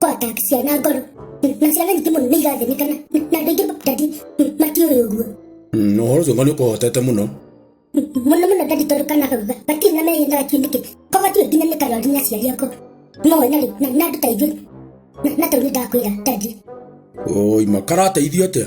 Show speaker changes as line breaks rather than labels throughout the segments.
kotaxia na ngoro na ciana nyingĩ mũno nĩ irathĩnĩka na na andũ aingĩ ndandi matiũrĩ ũguo Mm, ũhoro ũcio ng'ani
ũkũhotete mũno mũno mũno
ndandi tondũ kana kau ga- gatirĩ na mehe na gatirĩ nĩkĩ ko gatiĩ nginya nĩ karwari na aciari ako no na rĩ na na andũ ta ithuĩ na na tau nĩ ndakwĩra ndandi oi
makarateithio atĩa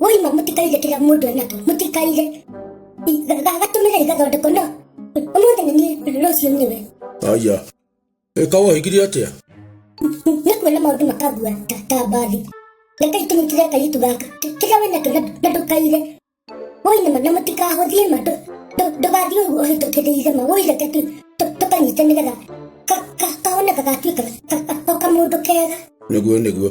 waima mũtikarire kĩrĩa mũndũ enakio mũtikarire gagatũmĩra igathondeko no ũmũthĩ nĩ niĩ rũciũ nĩwe aya
ĩka wahigire atĩa nĩ
kuona maũndũ makagua ta ta mbathi rekai tũnyitire kairitu gaka Kĩ- kĩrĩa wĩnakio na- na ndũkaire woinama na mũtikahũthie ma ndũ- ndũ- ndũgathiĩ ũguo ũhĩtũkĩrĩire ma woireke tu tũ- tũkanyite nĩgetha ka- ka- kahone gagatuĩka ka- ka- o kamũndũ kega nĩguo nĩguo